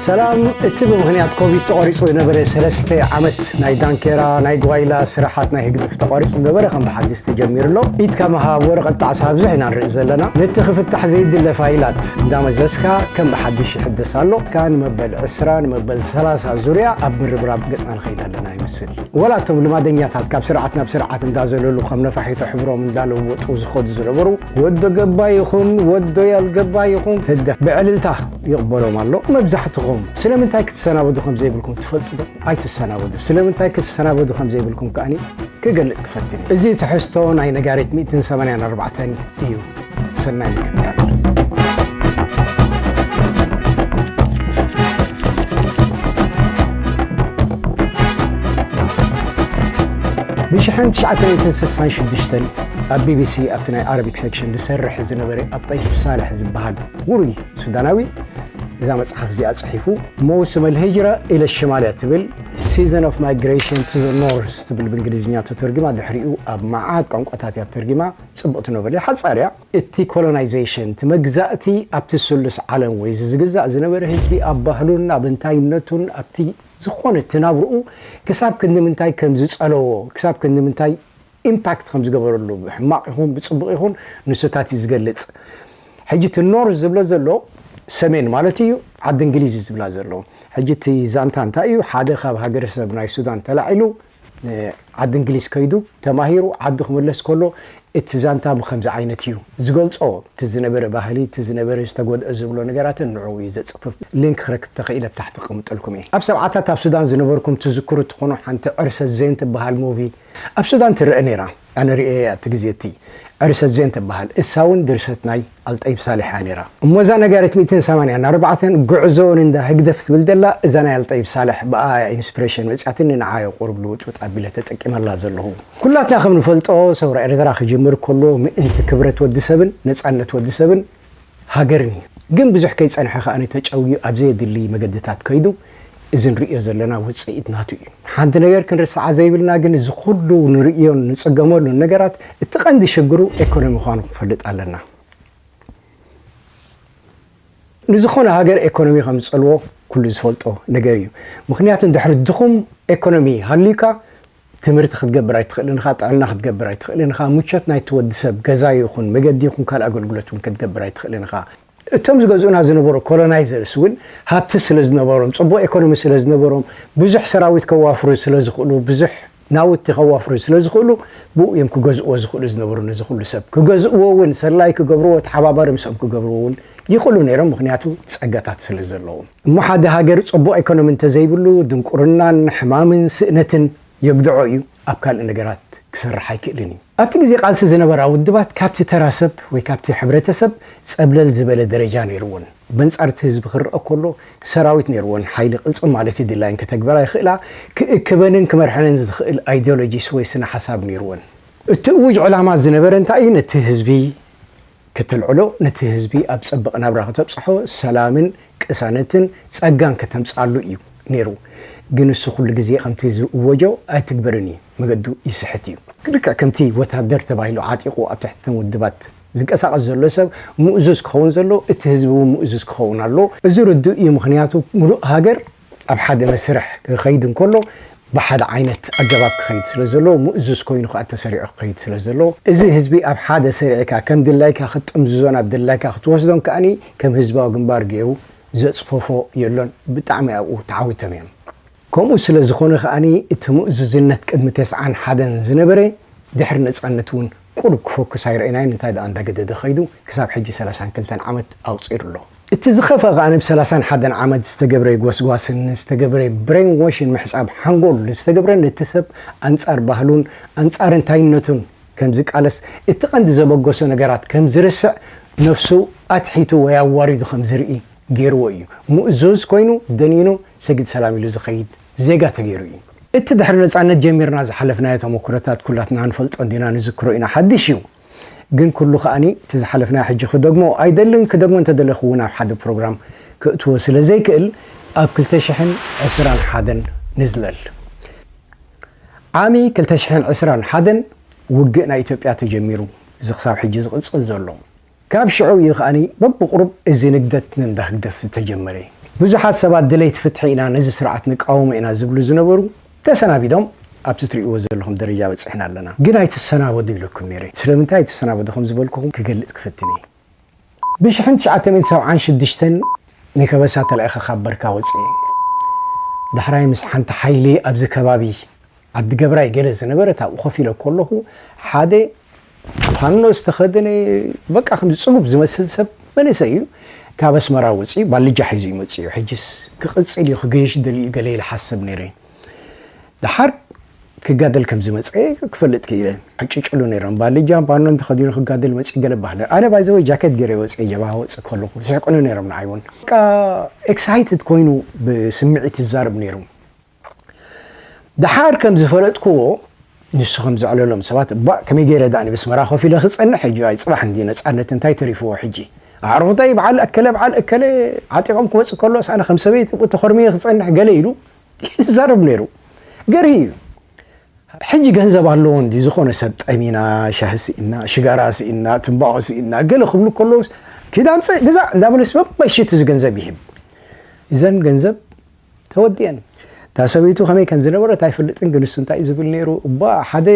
ሰላም እቲ ብምኽንያት ኮቪድ ተቖሪጹ ዝነበረ ሰለስተ ዓመት ናይ ዳንኬራ ናይ ጓይላ ስራሓት ናይ ህግድፍ ተቋሪጹ ዝነበረ ከም ብሓድሽ ተጀሚሩ ኣሎ ኢድካ ምሃብ ወረቐት ጣዕሳ ኣብዝሕና ንርኢ ዘለና ነቲ ክፍታሕ ዘይድለ ፋይላት እንዳመዘዝካ ከም ብሓድሽ ይሕደስ ኣሎ እስካ ንመበል ዕስራ ንመበል ሰላሳ ዙርያ ኣብ ምርብራብ ገጽና ንኸይድ ኣለና ይመስል ወላ እቶም ልማደኛታት ካብ ስርዓት ናብ ስርዓት እንዳዘለሉ ከም ነፋሒቶ ሕብሮም እንዳለወጡ ዝኸዱ ዝነበሩ ወዶ ገባ ይኹን ወዶ ያልገባ ይኹን ህግደፍ ብዕልልታ ይቕበሎም ኣሎ። መብዛሕትኹም ስለምንታይ ክትሰናበዱ ከም ዘይብልኩም ትፈልጡ ዶ? ኣይትሰናበዱ። ስለምንታይ ክትሰናበዱ ከም ዘይብልኩም ከኣኒ ክገልጽ ክፈትን እዩ። እዚ ትሕዝቶ ናይ ነጋሪት ሚእትን ሰማንያን ኣርባዕተን እዩ። ሰናይ ምክትታል። ብሽሕን ትሽዓተ ሚእትን ስሳን ሽዱሽተን ኣብ ቢቢሲ ኣብቲ ናይ ኣረቢክ ሴክሽን ዝሰርሕ ዝነበረ ኣብጠይፍ ሳልሕ ዝበሃል ውሩይ ሱዳናዊ እዛ መጽሓፍ እዚኣ ጽሒፉ መውስም ኣልሂጅራ ኢለ ሽማልያ ትብል ሲዘን ኦፍ ማይግሬሽን ቱ ኖርስ ትብል ብእንግሊዝኛ ተተርጊማ ድሕሪኡ ኣብ መዓት ቋንቋታት እያ ተርጊማ ጽቡቕቲ ኖቨል እያ ሓጻር እያ እቲ ኮሎናይዜሽን እቲ መግዛእቲ ኣብቲ ስሉስ ዓለም ወይ እዚ ዝግዛእ ዝነበረ ህዝቢ ኣብ ባህሉን ኣብ እንታይነቱን ኣብቲ ዝኾነ እቲ ናብርኡ ክሳብ ክንዲ ምንታይ ከም ዝጸለዎ ክሳብ ክንዲ ምንታይ ኢምፓክት ከም ዝገበረሉ ብሕማቕ ይኹን ብጽቡቕ ይኹን ንሱታት እዩ ዝገልጽ ሕጂ እቲ ኖርዝ ዝብሎ ዘሎ ሰሜን ማለት እዩ ዓዲ እንግሊዝ ዝብላ ዘሎ ሕጂ እቲ ዛንታ እንታይ እዩ ሓደ ካብ ሃገረሰብ ናይ ሱዳን ተላዒሉ ዓዲ እንግሊዝ ከይዱ ተማሂሩ ዓዱ ክምለስ ከሎ እቲ ዛንታ ብከምዚ ዓይነት እዩ ዝገልጾ እቲ ዝነበረ ባህሊ እቲ ዝነበረ ዝተጎድኦ ዝብሎ ነገራትን ንዕኡ እዩ ዘጽፍፍ ሊንክ ክረክብ ተኽኢለ ብታሕቲ ክቕምጠልኩም እየ ኣብ ሰብዓታት ኣብ ሱዳን ዝነበርኩም ትዝክሩ ትኾኑ ሓንቲ ዕርሰት ዜን ትበሃል ሙቪ ኣብ ሱዳን ትረኣ ነይራ ኣነ ርእየያ እቲ ግዜ እቲ ዕርሰት ዜን ትበሃል እሳ ውን ድርሰት ናይ ኣልጠይብ ሳልሕ እያ ነይራ እሞ እዛ ነጋሪት ሚእትን ሰማንያን ኣርባዕተን ጉዕዞ ንእንዳ ህግደፍ ትብል ዘላ እዛ ናይ ኣልጠይብ ሳልሕ ብኣኣ እያ ኢንስፕሬሽን መጽያትኒ ንዓ እየ ቁሩብ ልውጥውጥ ኣቢለ ተጠቂመላ ዘለኹ። ኩላትና ከም ንፈልጦ ሰውራ ኤርትራ ክጅምር ከሎ ምእንቲ ክብረት ወዲ ሰብን ነጻነት ወዲ ሰብን፣ ሃገርን እዩ። ግን ብዙሕ ከይጸንሐ ከኣ ተጨውዩ ኣብ ዘየድሊ መገድታት ከይዱ እዚ ንርእዮ ዘለና ውጽኢት ናቱ እዩ። ሓንቲ ነገር ክንርስዓ ዘይብልና ግን እዚ ኩሉ ንርእዮን ንጽገመሉን ነገራት እቲ ቀንዲ ሽግሩ ኤኮኖሚ ምዃኑ ክንፈልጥ ኣለና። ንዝኾነ ሃገር ኤኮኖሚ ከም ዝጸልዎ ኩሉ ዝፈልጦ ነገር እዩ። ምኽንያቱ ድሕሪ ድኹም ኤኮኖሚ ሃልዩካ ትምህርቲ ክትገብር ኣይትኽእልን ኢኻ፣ ጥዕና ክትገብር ኣይትኽእልን ኢኻ፣ ምቾት ናይቲ ወዲ ሰብ ገዛ ይኹን መገዲ ይኹን ካልእ ኣገልግሎት እውን ክትገብር ኣይትኽእልን ኢኻ። እቶም ዝገዝኡና ዝነበሩ ኮሎናይዘርስ እውን ሃብቲ ስለ ዝነበሮም፣ ጽቡቕ ኤኮኖሚ ስለ ዝነበሮም፣ ብዙሕ ሰራዊት ከዋፍሩ ስለ ዝኽእሉ፣ ብዙሕ ናውቲ ከዋፍሩ ስለ ዝኽእሉ፣ ብኡ እዮም ክገዝእዎ ዝኽእሉ ዝነበሩ ነዚ ኩሉ ሰብ። ክገዝእዎ እውን ሰላዪ ክገብርዎ ተሓባባሪ ምስኦም ክገብርዎ እውን ይኽእሉ ነይሮም ምኽንያቱ ጸጋታት ስለ ዘለዎም። እሞ ሓደ ሃገር ጸቡቕ ኤኮኖሚ እንተዘይብሉ ድንቁርናን ሕማምን ስእነትን የግድዖ እዩ፣ ኣብ ካልእ ነገራት ክሰርሕ ኣይክእልን እዩ። ኣብቲ ግዜ ቃልሲ ዝነበራ ውድባት ካብቲ ተራ ሰብ ወይ ካብቲ ሕብረተሰብ ጸብለል ዝበለ ደረጃ ነይርወን። በንጻር እቲ ህዝቢ ክርኣ ከሎ ሰራዊት ነይርወን፣ ሓይሊ ቅልጽም ማለት እዩ፣ ድላየን ከተግብራ ይኽእላ፣ ክእክበንን ክመርሐንን ዝኽእል ኣይዲዮሎጂስ ወይ ስነ-ሓሳብ ነይርወን። እቲ እዉጅ ዕላማ ዝነበረ እንታይ እዩ፣ ነቲ ህዝቢ ከተልዕሎ ነቲ ህዝቢ ኣብ ጸብቕ ናብራ ከተብጽሖ ሰላምን ቅሳነትን ጸጋን ከተምጽኣሉ እዩ ነይሩ ግን እሱ ኩሉ ግዜ ከምቲ ዝእወጆ ኣይትግበርን እዩ መገዱ ይስሕት እዩ። ልክዕ ከምቲ ወታደር ተባሂሉ ዓጢቑ ኣብ ትሕቲ እተን ውድባት ዝንቀሳቐስ ዘሎ ሰብ ምእዙዝ ክኸውን ዘለዎ እቲ ህዝቢ እውን ምእዙዝ ክኸውን ኣለዎ እዚ ርዱእ እዩ ምኽንያቱ ምሉእ ሃገር ኣብ ሓደ መስርሕ ክኸይድ እንከሎ ብሓደ ዓይነት ኣገባብ ክኸይድ ስለ ዘለዎ፣ ምእዙዝ ኮይኑ ከኣ ተሰሪዑ ክኸይድ ስለ ዘለዎ፣ እዚ ህዝቢ ኣብ ሓደ ሰሪዕካ ከም ድላይካ ክትጥምዝዞን ኣብ ድላይካ ክትወስዶን ከኣ ከም ህዝባዊ ግንባር ገይሩ ዘጽፈፎ የሎን። ብጣዕሚ ኣብኡ ተዓዊቶም እዮም። ከምኡ ስለ ዝኾነ ከኣ እቲ ምእዙዝነት ቅድሚ ተስዓን ሓደን ዝነበረ ድሕሪ ነጻነት እውን ቁሩብ ክፎክስ ኣይረኤናዮን፣ እንታይ ደኣ እንዳገደደ ከይዱ ክሳብ ሕጂ ሰላሳን ክልተን ዓመት ኣቑጺሩ ኣሎ። እቲ ዝኸፍኣ ከኣ ብ ሰላሳን ሓደን ዓመት ዝተገብረ ጎስጓስን ዝተገብረ ብሬን ዎሽን ምሕጻብ ሓንጎል ዝተገብረ ነቲ ሰብ ኣንጻር ባህሉን ኣንጻር እንታይነቱን ከም ዝቃለስ እቲ ቀንዲ ዘበገሶ ነገራት ከም ዝርስዕ ነፍሱ ኣትሒቱ ወይ ኣዋሪዱ ከም ዝርኢ ጌርዎ እዩ ምእዙዝ ኮይኑ ደኒኑ ሰግድ ሰላም ኢሉ ዝኸይድ ዜጋ ተጌሩ እዩ። እቲ ድሕሪ ነጻነት ጀሚርና ዝሓለፍናዮ ተመኩሮታት ኩላትና ንፈልጦ እንዲና ንዝክሮ ኢና ሓድሽ እዩ። ግን ኩሉ ከኣ እቲ ዝሓለፍናዮ ሕጂ ክደግሞ ኣይደልን ክደግሞ እንተደለኩ ውን ኣብ ሓደ ፕሮግራም ክእትዎ ስለ ዘይክእል ኣብ ክልተ ሽሕን ዕስራን ሓደን ንዝለል ዓሚ ክልተ ሽሕን ዕስራን ሓደን ውግእ ናይ ኢትዮጵያ ተጀሚሩ እዚ ክሳብ ሕጂ ዝቅጽል ዘሎ ካብ ሽዑ እዩ ከኣ በብቁሩብ እዚ ንግደት ንእንዳ ህግደፍ ዝተጀመረ ብዙሓት ሰባት ደለይቲ ፍትሒ ኢና ነዚ ስርዓት ንቃወሞ ኢና ዝብሉ ዝነበሩ ተሰናቢዶም ኣብቲ ትሪእዎ ዘለኹም ደረጃ በጺሕና ኣለና ግን ኣይትሰናበዱ ኢለኩም ኔረ ስለምንታይ ኣይትሰናበዱ ከም ዝበልኩኹም ክገልጽ ክፍትን ኢየ ብሽሕን ትሽዓተ ሚእቲ ሰብዓን ሽዱሽተን ንከበሳ ተላኢኸ ካብ በርካ ወጺኤ ዳሕራይ ምስ ሓንቲ ሓይሊ ኣብዚ ከባቢ ዓዲ ገብራይ ገለ ዝነበረት ኣብኡ ኮፍ ኢለ ኮለኹ ሓደ ፋኖ ዝተኸደነ በቃ ከምዚ ጽጉብ ዝመስል ሰብ መንእሰይ እዩ ካብ ኣስመራ ወጺኡ ባልጃ ሒዙ እዩ መጺኡ ሕጅስ ክቕጽል እዩ ክገይሽ ደልዩ ገለ ኢለ ሓስብ ነይረ ደሓር ክጋደል ከም ዝመጸ ክፈልጥ ክኢለ ዕጭጭሉ ነይሮም ባልጃ ፋኖን ተኸዲኑ ክጋደል መጺኡ ገለ ባህለ ኣነ ባይዘወይ ጃኬት ገይረ ወጸ ጀብሃ ወጽእ ከለኹ ይስሕቁኒ ነይሮም ንዓይ እውን በቃ ኤክሳይትድ ኮይኑ ብስምዒት ይዛረብ ነይሩ ደሓር ከም ዝፈለጥክዎ ንሱ ከም ዘዕለሎም ሰባት ባእ ከመይ ገይረ ዳኣ ንብስመራ ኮፍ ኢለ ክጸንሕ ሕጂ ኣይ ጽባሕ እንዲ ነጻነት እንታይ ተሪፍዎ ሕጂ ኣዕሩኽተይ በዓል ኣከለ በዓል እከለ ዓጢቖም ክመጽእ ከሎስ ኣነ ከም ሰበይቲ ኣብኡ ተኾርምየ ክጸንሕ ገለ ኢሉ ይዛረብ ነይሩ ገርሂ እዩ ሕጂ ገንዘብ ኣለዎ እንዲ ዝኾነ ሰብ ጠሚና ሻሂ ስኢና ሽጋራ ስኢና ትንባኾ ስኢና ገለ ክብሉ ከለውስ ኪዳምጽእ ግዛእ እንዳበለስ መመሽት እዚ ገንዘብ ይህብ እዘን ገንዘብ ተወዲኤን እታ ሰበይቱ ከመይ ከም ዝነበረት ኣይፈልጥን ግን ንሱ እንታይ እዩ ዝብል ነይሩ እባ ሓደ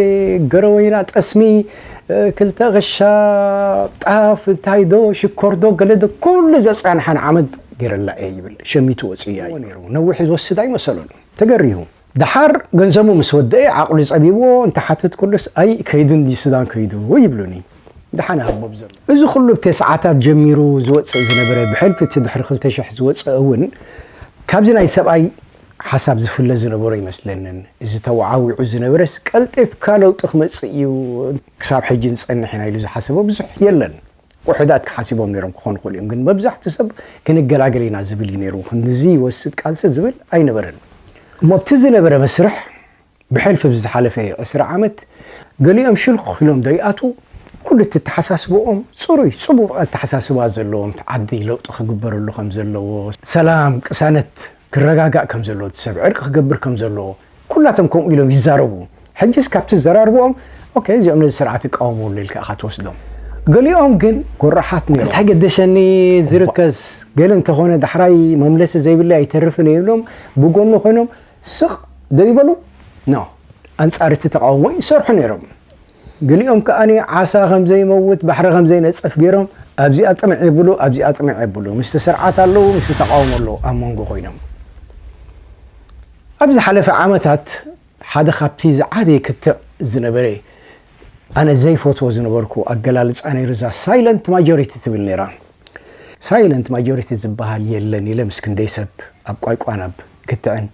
ገረወይና ጠስሚ ክልተ ክሻ ጣፍ እንታይ ዶ ሽኮር ዶ ገለ ዶ ኩሉ ዘጻንሓን ዓመት ገይረላ እየ ይብል ሸሚቱ ወጽያ እዩ ነይሩ ነዊሕ ዝወስድ ኣይመሰሎን ተገሪሁ ደሓር ገንዘቡ ምስ ወደኤ ዓቕሉ ጸቢብዎ እንተሓተትኩሉስ ኣይ ከይዱ እንድዩ ሱዳን ከይዱ ይብሉኒ ደሓን ሃቦ ብዘሎ። እዚ ኩሉ ብ ተስዓታት ጀሚሩ ዝወጽእ ዝነበረ ብሕልፊ እቲ ድሕሪ ክልተ ሽሕ ዝወጸ እውን ካብዚ ናይ ሰብኣይ ሓሳብ ዝፍለ ዝነበሮ ኣይመስለንን። እዚ ተወዓዊዑ ዝነበረስ ቀልጢፍካ ለውጢ ክመጽእ እዩ ክሳብ ሕጂ ንጸንሕ ኢና ኢሉ ዝሓሰበ ብዙሕ የለን። ውሑዳት ክሓሲቦም ነይሮም ክኾኑ ይኽእሉ እዮም ግን መብዛሕቱ ሰብ ክንገላገል ኢና ዝብል እዩ ነይሩ ክንድዚ ይወስድ ቃልሲ ዝብል ኣይነበረን። እሞ ብቲ ዝነበረ መስርሕ ብሕልፊ ኣብዚ ዝሓለፈ ዕስራ ዓመት ገሊኦም ሽልኽ ኢሎም ዶ ይኣትዉ ኩሉ እትተሓሳስብኦም ጽሩይ ጽቡቕ ኣተሓሳስባ ዘለዎም እቲ ዓዲ ለውጢ ክግበረሉ ከም ዘለዎ ሰላም ቅሳነት ክረጋጋእ ከም ዘለዎ እቲ ሰብ ዕርቂ ክገብር ከም ዘለዎ ኩላቶም ከምኡ ኢሎም ይዛረቡ ሕጂስ ካብቲ ዘራርብኦም ኦኬ እዚኦም ነዚ ስርዓት ይቃወሙ ኣሎ ኢልካ ኢኻ ትወስዶም ገሊኦም ግን ጎራሓት ነይሮም እንታይ ገደሸኒ ዝርከስ ገለ እንተኾነ ዳሕራይ መምለሲ ዘይብለይ ኣይተርፍን እየ ኢሎም ብጎኑ ኮይኖም ስቕ ዶ ይበሉ? ን ኣንጻር እቲ ተቓውሞ ይሰርሑ ነይሮም። ገሊኦም ከኣ ዓሳ ከም ዘይመውት፣ ባሕሪ ከም ዘይነጽፍ ገይሮም ኣብዚኣ ጥምዕ የብሉ ኣብዚኣ ጥምዕ የብሉ፣ ምስቲ ስርዓት ኣለዉ ምስቲ ተቓውሞ ኣለዉ ኣብ መንጎ ኮይኖም። ኣብ ዝሓለፈ ዓመታት ሓደ ካብቲ ዝዓበየ ክትዕ ዝነበረ ኣነ ዘይፈትዎ ዝነበርኩ ኣገላልጻ ነይሩ እዛ ሳይለንት ማጆሪቲ ትብል ነይራ። ሳይለንት ማጆሪቲ ዝባሃል የለን ኢለ ምስ ክንደይ ሰብ ኣብ ቋይቋን ኣብ ክትዕን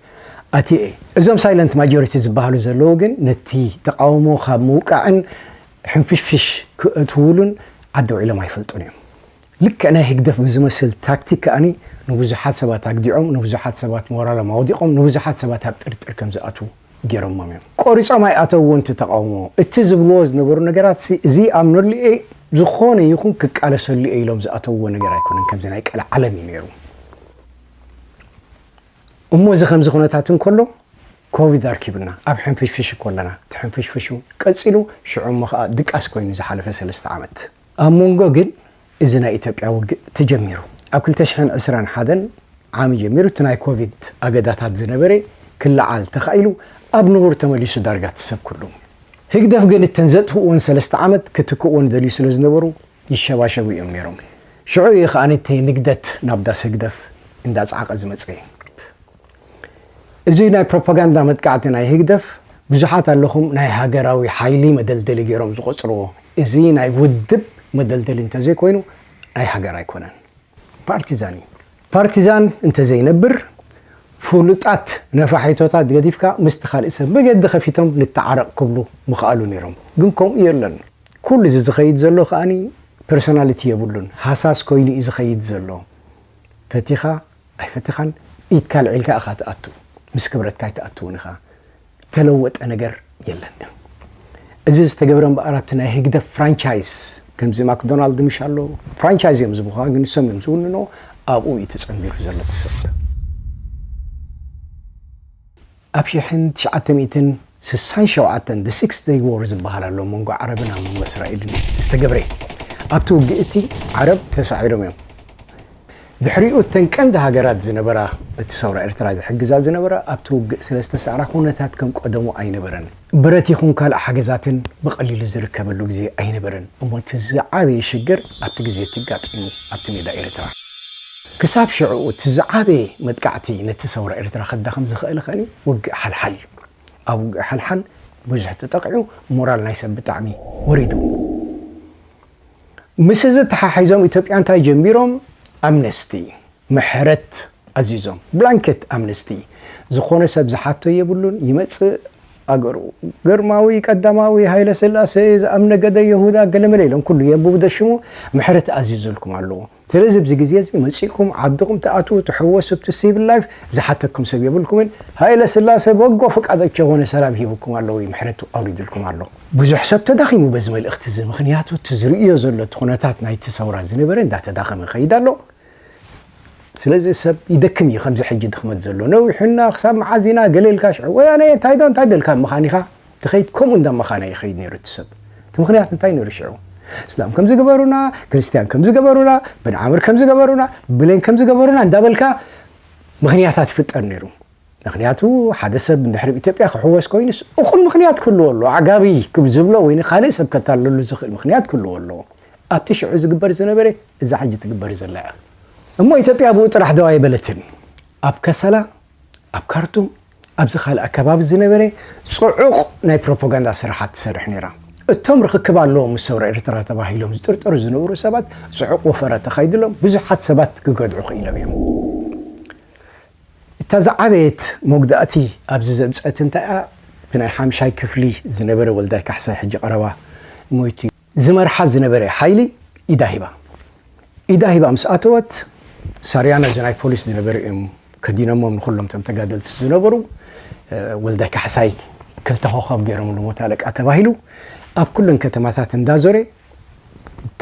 ኣትየ እየ። እዞም ሳይለንት ማጆሪቲ ዝባሃሉ ዘለዉ ግን ነቲ ተቓውሞ ካብ ምውቃዕን ሕንፍሽፍሽ ክእትዉሉን ዓዲ ውዒሎም ኣይፈልጡን እዮም። ልክዕ ናይ ህግደፍ ብዝመስል ታክቲክ ከኣ ንብዙሓት ሰባት ኣግዲዖም ንብዙሓት ሰባት ሞራሎም ኣውዲቖም ንብዙሓት ሰባት ኣብ ጥርጥር ከም ዝኣትዉ። ጌሮሞም እዮም ቆሪጾም ኣይኣተውዎን እቲ ተቃውሞ እቲ ዝብልዎ ዝነበሩ ነገራትሲ ዝይኣምነሉ እየ ዝኾነ ይኹን ክቃለሰሉ እየ ኢሎም ዝኣተውዎ ነገር ኣይኮነን ከምዚ ናይ ቀልዓለም እዩ ነይሩ እሞ እዚ ከምዚ ኩነታት እንከሎ ኮቪድ ኣርኪቡና ኣብ ሕንፍሽፍሽ እኮ ኣለና እቲ ሕንፍሽፍሽ እውን ቀጺሉ ሽዑ እሞ ከዓ ድቃስ ኮይኑ ዝሓለፈ ሰለስተ ዓመት ኣብ ሞንጎ ግን እዚ ናይ ኢትዮጵያ ውግእ ተጀሚሩ ኣብ ክልተ ሽሕን ዕስራን ሓደን ዓም ጀሚሩ እቲ ናይ ኮቪድ ኣገዳታት ዝነበረ ክለዓል ተኻኢሉ ኣብ ንቡር ተመሊሱ ዳርጋ እቲ ሰብ ኩሉ። ህግደፍ ግን እተን ዘጥፍኡወን ሰለስተ ዓመት ክትክእወን ደልዩ ስለ ዝነበሩ ይሸባሸቡ እዮም ነይሮም። ሽዑ እዩ ከኣ እቲ ንግደት ናብ ዳስ ህግደፍ እንዳጸዓቐ ዝመጸ። እዚ ናይ ፕሮፓጋንዳ መጥቃዕቲ ናይ ህግደፍ ብዙሓት ኣለኹም ናይ ሃገራዊ ሓይሊ መደልደሊ ጌሮም ዝቖጽርዎ እዚ ናይ ውድብ መደልደሊ እንተዘይኮይኑ ናይ ሃገር ኣይኮነን ፓርቲዛን እዩ። ፓርቲዛን እንተዘይነብር ፍሉጣት ነፋሒቶታት ገዲፍካ ምስቲ ካልእ ሰብ መገዲ ከፊቶም ንተዓረቕ ክብሉ ምኸኣሉ ኔሮም ግን ከምኡ የለን። ኩሉ እዚ ዝኸይድ ዘሎ ከኣ ፐርሶናሊቲ የብሉን ሃሳስ ኮይኑ እዩ ዝኸይድ ዘሎ ፈቲኻ ኣይፈተኻን ኢድካ ኣልዒልካ ኢኻ ትኣቱ ምስ ክብረትካ ኣይትኣትውን ኢኻ ተለወጠ ነገር የለን እዚ ዝተገብረ እምበኣር ኣብቲ ናይ ህግደፍ ፍራንቻይስ ከምዚ ማክዶናልድ ምሽ ኣሎ ፍራንቻይዝ እዮም ዝብኻ ግን ንሶም እዮም ዝውንኖ ኣብኡ እዩ ተጸንቢሩ ዘሎ ትሰብ ኣብ ሽሕን ትሽዓተ ሚእትን ስሳን ሸውዓተን The Six Day War ዝበሃል ኣሎ መንጎ ዓረብን ኣብ መንጎ እስራኤልን ዝተገብረ እዩ። ኣብቲ ውግእ እቲ ዓረብ ተሳዒሮም እዮም። ድሕሪኡ እተን ቀንዲ ሃገራት ዝነበራ እቲ ሰውራ ኤርትራ ዝሕግዛ ዝነበራ ኣብቲ ውግእ ስለዝተሳዕራ ኩነታት ከም ቀደሙ ኣይነበረን። ብረት ይኹን ካልእ ሓገዛትን ብቐሊሉ ዝርከበሉ ግዜ ኣይነበረን እሞ እቲ ዝዓበየ ሽግር ኣብቲ ግዜ እቲ ኣጋጢሙ ኣብቲ ሜዳ ኤርትራ። ክሳብ ሽዑ እቲ ዝዓበየ መጥቃዕቲ ነቲ ሰውራ ኤርትራ ከዳኽም ዝኸእለ ከኒ ውግእ ሓልሓል እዩ። ኣብ ውግእ ሓልሓል ብዙሕ ተጠቒዑ ሞራል ናይ ሰብ ብጣዕሚ ወሪዱ። ምስዚ ተሓሒዞም ኢትዮጵያ እንታይ ጀሚሮም ኣምነስቲ፣ ምሕረት ኣዚዞም ብላንኬት ኣምነስቲ ዝኾነ ሰብ ዝሓቶ የብሉን ይመጽእ ኣገሩ ግርማዊ ቀዳማዊ ሃይለ ስላሰ ዝኣም ነገደ የሁዳ ገለመለ ኢሎም ኩሉ የንብቡ ደሽሙ ምሕረት ኣዚዙልኩም ኣለዎ ስለዚ ኣብዚ ግዜ እዚ መጺእኩም ዓድኹም ትኣትዉ ትሕወሱ ኣብቲ ሲቪል ላይፍ ዝሓተኩም ሰብ የብልኩምን ሃይለ ስላሰ በጎ ፍቃድ ቸኾነ ሰላም ሂቡኩም ኣለዉ ምሕረቱ ኣውሪድልኩም ኣሎ ብዙሕ ሰብ ተዳኺሙ በዚ መልእኽቲ እዚ ምኽንያቱ እቲ ዝርእዮ ዘሎ እቲ ኩነታት ናይቲ ሰውራ ዝነበረ እንዳተዳኸመ ይኸይድ ኣሎ ስለዚ ሰብ ይደክም እዩ ከምዚ ሕጂ ድክመት ዘሎ ነዊሑና ክሳብ መዓዝ ኢና ገለ ኢልካ ሽዑ ወያነ እንታይ ዶ እንታይ ደልካ መኻኒኻ ትኸይድ ከምኡ እንዳ መኻና ይኸይድ ነይሩ እቲ ሰብ እቲ ምክንያት እንታይ ነይሩ ሽዑ እስላም ከምዚ ገበሩና ክርስትያን ከምዚ ገበሩና ብንዓምር ከምዚ ገበሩና ብሌን ከምዚ ገበሩና እንዳበልካ ምክንያታት ይፍጠር ነይሩ ምኽንያቱ ሓደ ሰብ እንድሕር ኣብ ኢትዮጵያ ክሕወስ ኮይኑስ እኹል ምኽንያት ክህልዎ ኣለዎ፣ ኣዕጋቢ ክብ ዝብሎ ወይ ንካልእ ሰብ ከታልለሉ ዝኽእል ምኽንያት ክህልዎ ኣለዎ። ኣብቲ ሽዑ ዝግበር ዝነበረ እዛ ሕጂ ትግበር ዘላ እያ። እሞ ኢትዮጵያ ብኡ ጥራሕ ደው ኣይበለትን። ኣብ ከሰላ፣ ኣብ ካርቱም፣ ኣብዚ ካልእ ኣከባቢ ዝነበረ ጽዑቕ ናይ ፕሮፖጋንዳ ስራሓት ትሰርሕ ነይራ። እቶም ርኽክብ ኣለዎም ምስ ሰውራ ኤርትራ ተባሂሎም ዝጥርጠሩ ዝነበሩ ሰባት ጽዑቕ ወፈራ ተኻይድሎም ብዙሓት ሰባት ክገድዑ ክኢሎም እዮም። እታ ዝዓበየት መጉዳእቲ ኣብዚ ዘምጸት እንታይ'ያ ብናይ ሓምሻይ ክፍሊ ዝነበረ ወልዳይ ካሕሳይ ሕጂ ቀረባ ሞይቱ ዝመርሓ ዝነበረ ሓይሊ ኢዳ ሂባ ኢዳ ሂባ ምስ ኣተወት ሳርያ ነዚ ናይ ፖሊስ ዝነበረ እዮም ከዲነሞም ንኹሎም እቶም ተጋደልቲ ዝነበሩ ወልዳይ ካሕሳይ ክልተ ኮኾብ ገይሮምሉ ሞት ኣለቃ ተባሂሉ ኣብ ኩለን ከተማታት እንዳዞረ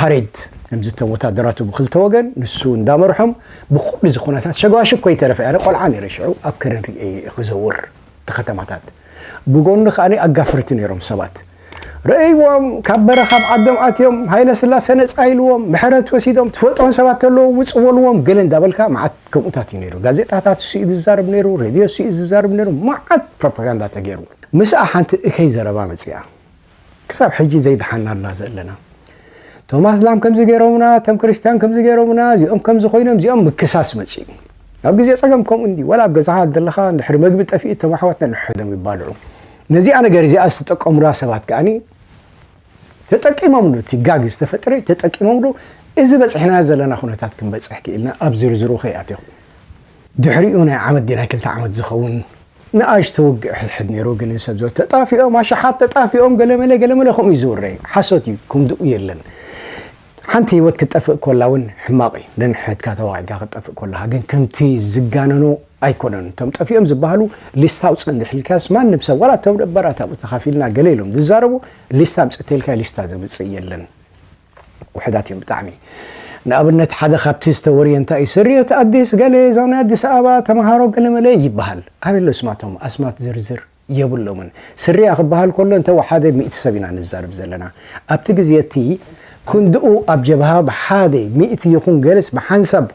ፓሬድ ከምዚ እቶም ወታደራቱ ብክልተ ወገን ንሱ እንዳመርሖም ብኩሉ እዚ ኩነታት ሸጓሽግ ኮይተረፈ ኣነ ቆልዓ ነይረ ሽዑ ኣብ ከረን ርእየዮ እየ ክዘውር እቲ ከተማታት ብጎኑ ከኣ ኣጋፍርቲ ነይሮም ሰባት ረእይዎም ካብ በረኻ ኣብ ዓዶም ኣትዮም ሃይለስላሰ ነጻ ኢልዎም ምሕረት ወሲዶም ትፈልጦም ሰባት ተለዎ ውጽእ በልዎም ገለ እንዳበልካ መዓት ከምኡታት እዩ ነይሩ ጋዜጣታት እሱ እዩ ዝዛርብ ነይሩ ሬድዮ እሱ እዩ ዝዛርብ ነይሩ መዓት ፕሮፓጋንዳ ተገይሩ ምስኣ ሓንቲ እከይ ዘረባ መጽኣ ክሳብ ሕጂ ዘይደሓናላ ዘለና እቶም ኣስላም ከምዚ ገይሮምና እቶም ክርስትያን ከምዚ ገይሮምና እዚኦም ከምዚ ኮይኖም እዚኦም ምክሳስ መፅኡ ኣብ ግዜ ፀገም ከምኡ እንዲ ዋላ ኣብ ገዛኻ ዘለኻ ድሕሪ መግቢ ጠፊኡ እቶም ኣሕዋትና ንሕዶም ይባልዑ ነዚኣ ነገር እዚኣ ዝተጠቀሙላ ሰባት ከዓኒ ተጠቂሞምሉ እቲ ጋግ ዝተፈጥረ ተጠቂሞምሉ እዚ በፅሕና ዘለና ኩነታት ክንበፅሕ ክኢልና ኣብ ዝርዝሩ ከይኣትኹ ድሕሪኡ ናይ ዓመት ናይ ክልተ ዓመት ዝኸውን ንኣሽቱ ውግእ ሕድሕድ ነይሩ ግን ሰብ ዝበሉ ተጣፊኦም ኣሽሓት ተጣፊኦም ገለመለ ገለመለ ከምኡ እዩ ዝውረይ ሓሶት እዩ ከምድኡ የለን ሓንቲ ህይወት ክትጠፍእ ኮላ እውን ሕማቕ እዩ ነንሕድካ ተዋጊእካ ክትጠፍእ ኮላካ ግን ከምቲ ዝጋነኖ ኣይኮነን እቶም ጠፊኦም ዝበሃሉ ሊስታ ኣውፅእ እንድሕልካስ ማንም ሰብ ዋላ እቶም ደበራት ኣብኡ ተኻፊልና ገለ ኢሎም ዝዛረቡ ሊስታ ኣምፅእተልካ ሊስታ ዘምፅእ የለን ውሕዳት እዮም ብጣዕሚ ንኣብነት ሓደ ካብቲ ዝተወርየ እንታይ እዩ ስርየት ኣዲስ ገለ እዞም ናይ ኣዲስ ኣበባ ተምሃሮ ገለመለ ይበሃል ኣበይ ኣሎ ስማቶም ኣስማት ዝርዝር የብሎምን ስርያ ክበሃል ከሎ እንተ ወሓደ ሚእቲ ሰብ ኢና ንዛርብ ዘለና ኣብቲ ግዜ እቲ ክንድኡ ኣብ ጀብሃ ብሓደ ሚእቲ ይኹን ገለስ ብሓንሳብ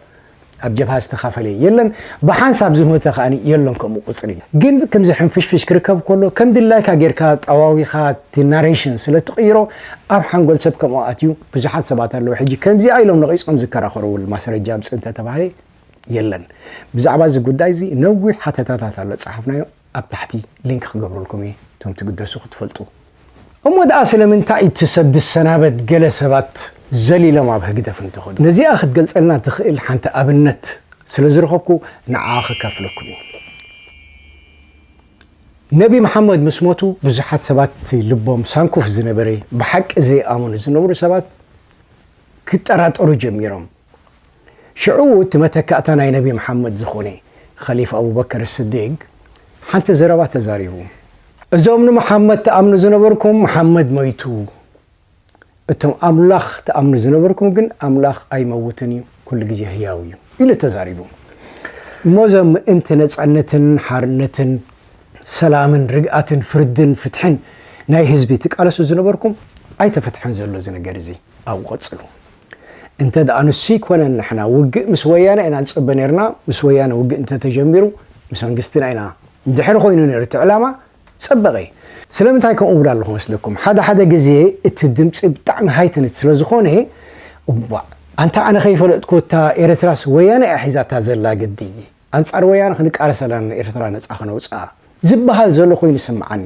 ኣብ ጀብሃ ዝተኻፈለ የለን ብሓንሳብ ዝሞተ ከኣ የሎን ከምኡ ቁጽሪ ግን ክምዚ ሕንፍሽፍሽ ክርከብ ኮሎ ከም ድላይካ ጌርካ ጠዋዊካ እቲ ናሬሽን ስለ ትቅይሮ ኣብ ሓንጎል ሰብ ከምኡ ኣትዩ ብዙሓት ሰባት ኣለዉ ሕጂ ከምዚኣ ኢሎም ነቂጾም ዝከራኸርውል ማስረጃ ኣምጽ እንተ ተባህለ የለን ብዛዕባ እዚ ጉዳይ እዚ ነዊሕ ሓተታታት ኣሎ ጸሓፍናዮ ኣብ ታሕቲ ሊንክ ክገብረልኩም እየ እቶም ትግደሱ ክትፈልጡ። እሞ ደኣ ስለምንታይ እቲ ሰብ ዝሰናበት ገለ ሰባት ዘሊሎም ኣብ ህግደፍ እንተኸዱ? ነዚኣ ክትገልጸልና ትኽእል ሓንቲ ኣብነት ስለ ዝረኸብኩ ንዓኣ ከካፍለኩም እየ። ነቢ መሓመድ ምስ ሞቱ ብዙሓት ሰባት እቲ ልቦም ሳንኩፍ ዝነበረ ብሓቂ ዘይኣመኑ ዝነብሩ ሰባት ክጠራጠሩ ጀሚሮም። ሽዑ እቲ መተካእታ ናይ ነቢ መሓመድ ዝኾነ ኸሊፋ ኣቡበከር ስዲግ ሓንቲ ዘረባ ተዛሪቡ። እዞም ንመሓመድ ትኣምኑ ዝነበርኩም መሓመድ ሞይቱ፣ እቶም ኣምላኽ ትኣምኑ ዝነበርኩም ግን ኣምላኽ ኣይመውትን እዩ ኩሉ ግዜ ህያው እዩ ኢሉ ተዛሪቡ። እሞ እዞም ምእንቲ ነጻነትን ሓርነትን ሰላምን ርግኣትን ፍርድን ፍትሕን ናይ ህዝቢ ትቃለሱ ዝነበርኩም ኣይተፈትሐን ዘሎ እዚ ነገር እዚ ኣብኡ ቀጽሉ። እንተ ደኣ ንሱ ኣይኮነን ንሕና ውግእ ምስ ወያነ ኢና ንጽበ ኔርና፣ ምስ ወያነ ውግእ እንተ ተጀሚሩ ምስ መንግስትና ኢና እንድሕር ኮይኑ ኔሩ እቲ ዕላማ ጸበቐ። ስለምንታይ ከምኡ እብል ኣለኹ መስለኩም ሓደ ሓደ ግዜ እቲ ድምጺ ብጣዕሚ ሃይትንት ስለ ዝኾነ እዋእ ኣንታ ኣነ ከይፈለጥኩ እታ ኤረትራስ ወያነ እያ ሒዛታ ዘላ ግዲ። ኣንጻር ወያነ ክንቃለስ ኣለና ንኤርትራ ነጻ ከነውጽኣ ዝብሃል ዘሎ ኮይኑ ይስምዓኒ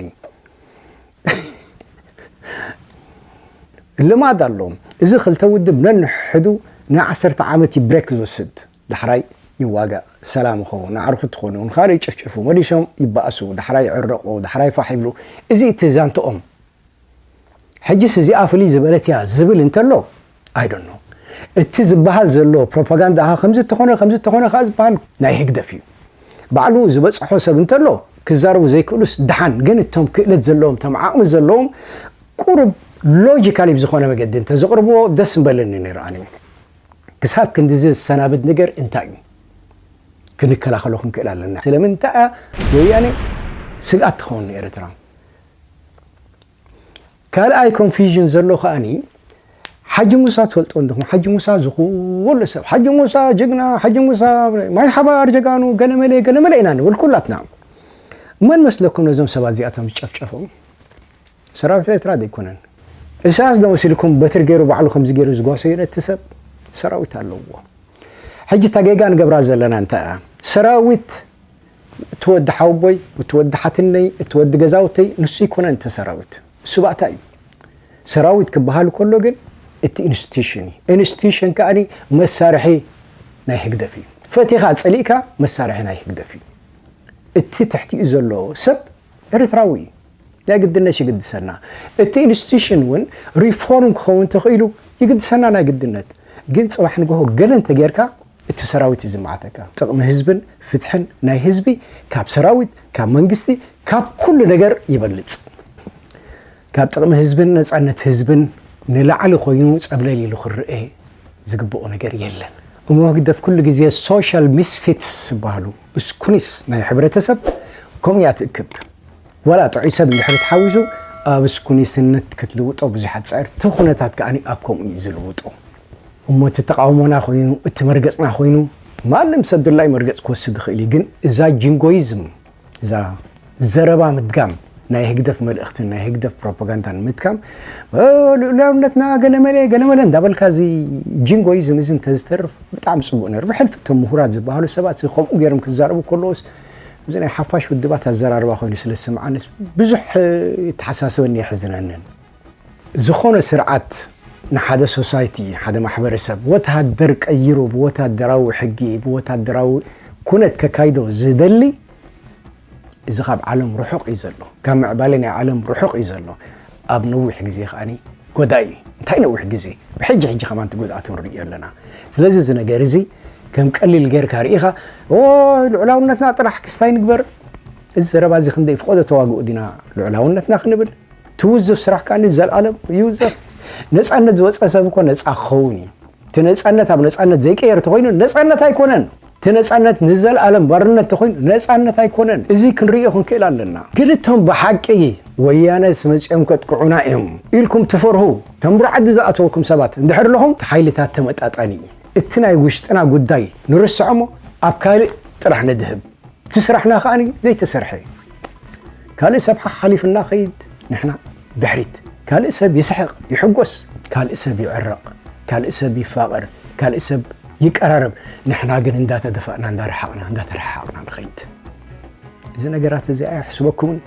ልማድ ኣሎም እዚ ክልተ ውድብ ነንሕዱ ናይ ዓሰርተ ዓመት እዩ ብሬክ ዝወስድ ዳሕራይ ይዋጋእ ሰላም ይኸውን ናዕሩ ክትኾኑ ንካልእ ይጭፍጭፉ መሊሶም ይባእሱ ዳሕራይ ይዕረቑ ዳሕራይ ፋሕ ይብሉ እዚ እቲ ዛንትኦም ሕጅስ እዚኣ ፍልይ ዝበለት እያ ዝብል እንተሎ I don't know እቲ ዝባሃል ዘሎ ፕሮፓጋንዳ ከኣ ከምዚ እንተኾነ ከምዚ እንተኾነ ከኣ ዝባሃል ናይ ህግደፍ እዩ ባዕሉ ዝበጽሖ ሰብ እንተሎ ክዛረቡ ዘይክእሉስ ድሓን ግን እቶም ክእለት ዘለዎም እቶም ዓቕሚ ዘለዎም ቁሩብ ሎጂካሊ ብዝኾነ መገዲ እንተዘቕርብዎ ደስ ምበለኒ ነይሩ ኣነ ክሳብ ክንድዚ ዝሰናብድ ነገር እንታይ እዩ ክንከላኸሎ ክንክእል ኣለና ስለምንታይ እያ ወያኔ ስግኣት ትኸውን ንኤርትራ ካልኣይ ኮንፊዥን ዘሎ ከኣኒ ሓጂ ሙሳ ትፈልጥዎ እንዲኹም ሓጂ ሙሳ ዝኹሉ ሰብ ሓጂ ሙሳ ጅግና ሓጂ ሙሳ ማይ ሓባር ጀጋኑ ገለመለ ገለመለ ኢና ንብል ኩላትና መን መስለኩም ነዞም ሰባት እዚኣቶም ዝጨፍጨፎም ሰራዊት ኤርትራ ዘይኮነን እሳያስ ዶ መሲልኩም በትሪ ገይሩ ባዕሉ ከምዚ ገይሩ ዝጓሰዩ ነቲ ሰብ ሰራዊት ኣለዎ ሕጂ እታ ጌጋ ንገብራ ዘለና እንታይ እያ ሰራዊት እቲ ወዲ ሓወቦይ፣ እቲ ወዲ ሓትነይ፣ እቲ ወዲ ገዛውተይ ንሱ ኣይኮነን እቲ ሰራዊት። ንሱ ባእታ እዩ። ሰራዊት ክበሃል ከሎ ግን እቲ ኢንስቲትዩሽን እዩ። ኢንስቲትዩሽን ከኣ መሳርሒ ናይ ህግደፍ እዩ። ፈቲኻ ጸሊእካ መሳርሒ ናይ ህግደፍ እዩ። እቲ ትሕቲኡ ዘሎ ሰብ ኤርትራዊ እዩ። ናይ ግድነት ይግድሰና እቲ ኢንስቲቱሽን እውን ሪፎርም ክኸውን ተኽኢሉ ይግድሰና ናይ ግድነት ግን ፅባሕ ንግሆ ገለ እንተገይርካ እቲ ሰራዊት እዩ ዝመዓተካ ጥቕሚ ህዝብን ፍትሕን ናይ ህዝቢ ካብ ሰራዊት ካብ መንግስቲ ካብ ኩሉ ነገር ይበልፅ ካብ ጥቕሚ ህዝብን ነፃነት ህዝብን ንላዕሊ ኮይኑ ፀብለል ኢሉ ክረኤ ዝግብኦ ነገር የለን እሞ ህግደፍ ኩሉ ግዜ ሶሻል ሚስፊትስ ዝበሃሉ እስኩኒስ ናይ ሕብረተሰብ ከምኡ እያ ትእክብ ዋላ ጥዑይ ሰብ እንድሕሪ ተሓዊሱ ኣብ ስኩኒስነት ክትልውጦ ብዙሕ ኣጻይር እቲ ኩነታት ከኣ ኣብ ከምኡ እዩ ዝልውጦ እሞ እቲ ተቓውሞና ኮይኑ እቲ መርገጽና ኮይኑ ማንም ሰብ ድላዩ መርገጽ ክወስድ ይኽእል እዩ ግን እዛ ጂንጎይዝም እዛ ዘረባ ምድጋም ናይ ህግደፍ መልእኽትን ናይ ህግደፍ ፕሮፓጋንዳን ምትካም ልኡላውነትና ገለመለ ገለመለ እንዳበልካ እዚ ጂንጎይዝም እዚ እንተዝተርፍ ብጣዕሚ ጽቡቅ ነይሩ ብሕልፊ እቶም ምሁራት ዝበሃሉ ሰባት እዚ ከምኡ ገይሮም ክዛረቡ ከለዎስ እዚ ናይ ሓፋሽ ውድባት ኣዘራርባ ኮይኑ ስለ ዝስምዓንስ ብዙሕ ይተሓሳሰበኒ የሕዝነንን። ዝኾነ ስርዓት ንሓደ ሶሳይቲ ንሓደ ማሕበረሰብ ወተሃደር ቀይሩ ብወተሃደራዊ ሕጊ ብወተሃደራዊ ኩነት ከካይዶ ዝደሊ እዚ ካብ ዓለም ርሑቕ እዩ ዘሎ፣ ካብ ምዕባለ ናይ ዓለም ርሑቕ እዩ ዘሎ። ኣብ ነዊሕ ግዜ ከኣ ጎዳኢ እዩ። እንታይ ነዊሕ ግዜ ብሕጂ ሕጂ ከማን እቲ ጉድኣቱ ንርእዮ ኣለና። ስለዚ እዚ ነገር እዚ ከም ቀሊል ጌርካ ርኢኻ ኦይ ልዑላውነትና ጥራሕ ክስታይ ንግበር እዚ ዘረባ እዚ ክንደይ ፍቆዶ ተዋግኡ ዲና ልዑላውነትና ክንብል ትውዙፍ ስራሕ ከኣ ዘልኣለም ይውዘፍ ነፃነት ዝወፀ ሰብ እኮ ነፃ ክኸውን እዩ። እቲ ነፃነት ኣብ ነፃነት ዘይቀየር ተኾይኑ ነፃነት ኣይኮነን እቲ ነፃነት ንዘለኣለም ባርነት ተኾይኑ ነፃነት ኣይኮነን እዚ ክንርእዮ ክንክእል ኣለና ግን እቶም ብሓቂ ወያነ ስመፅኦም ከጥቅዑና እዮም ኢልኩም ትፈርሁ ተምብሩ ዓዲ ዝኣተወኩም ሰባት እንድሕር ኣለኹም እቲ ሓይልታት ተመጣጣኒ እዩ እቲ ናይ ውሽጥና ጉዳይ ንርስዖ እሞ ኣብ ካልእ ጥራሕ ንድህብ እቲ ስራሕና ከኣ ዘይተሰርሐ እዩ ካልእ ሰብሓ ሓሊፍና ኸይድ ንሕና ድሕሪት፣ ካልእ ሰብ ይስሕቕ፣ ይሕጎስ፣ ካልእ ሰብ ይዕረቕ፣ ካልእ ሰብ ይፋቐር፣ ካልእ ሰብ ይቀራረብ፣ ንሕና ግን እንዳተደፋእና እንዳረሓቕና እንዳተረሓሓቕና ንኸይድ። እዚ ነገራት እዚ ኣየሕስበኩምን?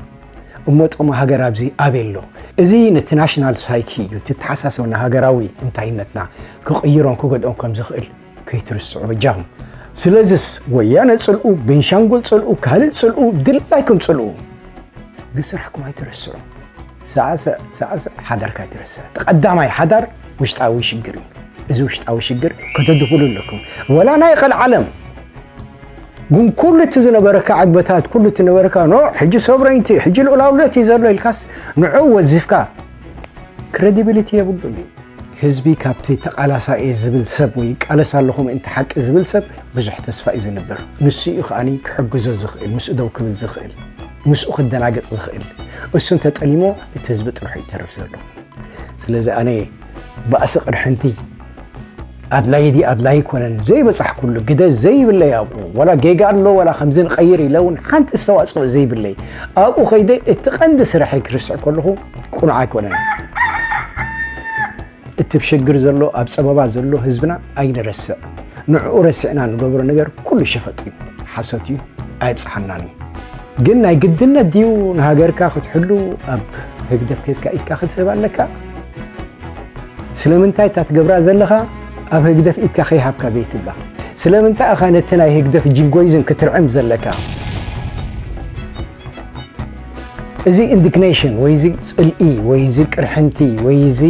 እሞ ጥቕሚ ሃገር ኣብዚ ኣበይ ኣሎ? እዚ ነቲ ናሽናል ሳይኪ እዩ፣ እቲ ኣተሓሳስባና ሃገራዊ እንታይነትና ክቕይሮን ክጎድኦን ከም ዝኽእል ከይትርስዑ ጃም ስለዝስ ወያነ ጽልኡ ቤንሻንጉል ጽልኡ ካልእ ጽልኡ ድላይኩም ጽልኡ ግን ስራሕኩም ኣይትርስዑ ሳዕስዕ ሳዕስዕ ሓዳርካ ኣይትርስዕ ተቐዳማይ ሓዳር ውሽጣዊ ሽግር እዩ እዚ ውሽጣዊ ሽግር ከተድኹሉ ኣለኩም ወላ ናይ ቐልዓለም ግን ኩሉ እቲ ዝነበረካ ዕግበታት ኩሉ እቲ ነበረካ ኖ ሕጂ ሶቨረይቲ ሕጂ ልኡላውነት እዩ ዘሎ ኢልካስ ንዑ ወዚፍካ ክረዲቢሊቲ የብሉን እዩ። ህዝቢ ካብቲ ተቓላሳይ እየ ዝብል ሰብ ወይ ይቃለስ ኣለኹ ምእንቲ ሓቂ ዝብል ሰብ ብዙሕ ተስፋ እዩ ዝንብር። ንሱ እዩ ከኣ ክሕግዞ ዝኽእል፣ ምስኡ ደው ክብል ዝኽእል፣ ምስኡ ክደናገጽ ዝኽእል። እሱ እንተ ጠሊሞ እቲ ህዝቢ ጥርሑ ይተርፍ ዘሎ። ስለዚ ኣነ ባእሲ ቅርሕንቲ፣ ኣድላይ ድዩ ኣድላይ ኣይኮነን ዘይበጻሕኩሉ ግደ ዘይብለይ ኣብኡ ዋላ ጌጋ ኣሎ ዋላ ከምዚ ንቐይር ኢለ እውን ሓንቲ ኣስተዋጽኦ ዘይብለይ ኣብኡ ከይደ እቲ ቀንዲ ስርሐይ ክርስዕ ከለኹ ቁኑዕ ኣይኮነን እቲ ብሽግር ዘሎ ኣብ ፀበባ ዘሎ ህዝብና ኣይንረስዕ ንዕኡ ረሲዕና ንገብሮ ነገር ኩሉ ሸፈጥ እዩ ሓሶት እዩ ኣይብፅሓናን እዩ ግን ናይ ግድነት ድዩ ንሃገርካ ክትሕሉ ኣብ ህግደፍ ከድካ ኢድካ ክትህብ ኣለካ? ስለምንታይ እታ ትገብራ ዘለኻ ኣብ ህግደፍ ኢድካ ከይሃብካ ዘይትብላ? ስለምንታይ እኻ ነቲ ናይ ህግደፍ ጂንጎይዝም ክትርዕም ዘለካ? እዚ ኢንዲግኔሽን ወይ እዚ ፅልኢ ወይ እዚ ቅርሕንቲ ወይ እዚ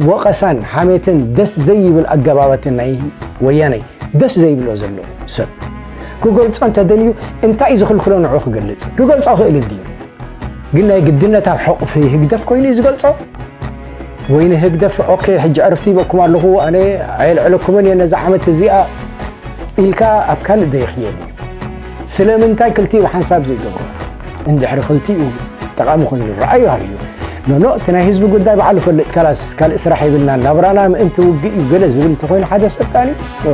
ወቐሳን ሓሜትን ደስ ዘይብል ኣገባባትን ናይ ወያነ ደስ ዘይብሎ ዘሎ ሰብ ክገልጾ እንተ ደልዩ እንታይ እዩ ዝኽልክሎ ንዕኡ ክገልጽ? ክገልጾ ክእል እንድዩ። ግን ናይ ግድነት ኣብ ሕቑፊ ህግደፍ ኮይኑ እዩ ዝገልጾ? ወይ ንህግደፍ ኦኬ ሕጂ ዕርፍቲ ይበኩም ኣለኹ ኣነ ኣየልዕለኩምን እየ ነዚ ዓመት እዚኣ ኢልካ ኣብ ካልእ ዶ ይኽየድ እዩ? ስለምንታይ ክልቲኡ ብሓንሳብ ዘይገብሮ? እንድሕሪ ክልቲኡ ጠቓሚ ኮይኑ ረኣዩ ሃልዩ ኖኖ እቲ ናይ ህዝቢ ጉዳይ ባዕሉ ፈልጥ ካላስ ካልእ ስራሕ የብልናን ናብራና ምእንቲ ውግእ እዩ ገለ ዝብል እንተኮይኑ ሓደ ሰልጣን እዩ